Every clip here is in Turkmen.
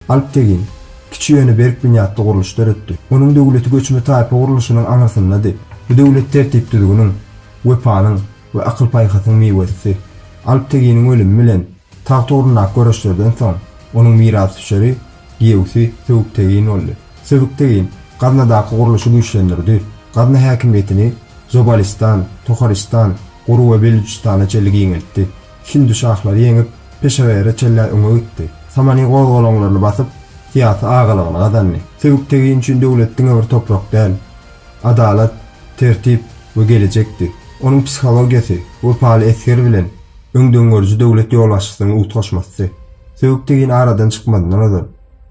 Alptegin, kiçi ýöne berk binýatly gurluş döretdi. Onuň döwleti göçme taýpa gurluşynyň aňyrsyndady. Bu döwlet tertip-düzgüniň, wepanyň we akyl-paýhasyň miwesidi. Alpteginiň ölümi bilen tagt ugrundaky göreşlerden soň, onuň mirasdüşeri, giýewsi Söbüktegin boldy. Söbüktegin Gaznadaky gurluşy güýçlendirdi, Gazna häkimiýetini Zobalystan, Toharistan, Guru we Belüjistana çenli giňeltdi. Hindi şahlary ýeňip, Peşewere çenlä öňe gitdi. Samany gozgalaňlaryny basyp, syýasy agalygyny gazandy. Söbüktegin üçin döwlet diňe bir toprak däl, adalat, tertip we gelejekdi. Onuň psihologiýasy wepaly esger bilen öňdengörüji döwlet ýolbaşçysynyň utgaşmasdy. Söbüktegin aradan çykmazyndan ozal,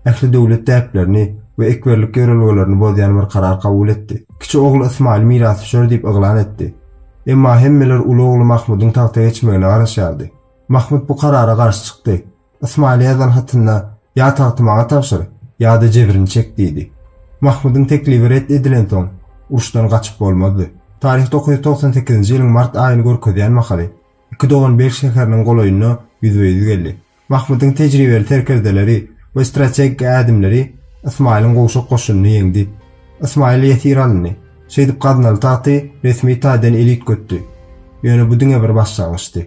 ähli döwlet däplerini we ekberlik ýörelgelerini bozýan bir karar kabul etdi. Kiçi ogly Ysmaýyl mirasdüşer diýip yglan etdi. Emma hemmeler uly ogly Mahmudyň tagta geçmegine garaşýardy. Mahmut bu karara garşy çykdy. Ysmaýyla ýazan hatynda Ýa tagty maňa tabşyr, ýa-da jebrini çek diýdi. Mahmudyň teklibi ret edilensoň, uruşdan gaçyp bolmazdy. Taryh dokuz ýüz togsan sekizinji ýylyň mart aýyny görkezýän mahaly, iki dogan Belh şäheriniň golaýynda ýüzbe-ýüz geldi. Mahmudyň tejribeli serkerdeleri we strategik ädimleri Ysmaýylyň gowşak goşunyny ýeňdi. Ysmaýyl ýesir alyndy. Şeýdip gaznaly tagty resmi taýdan eli üýtgetdi. Ýöne bu diňe bir başlangyçdy.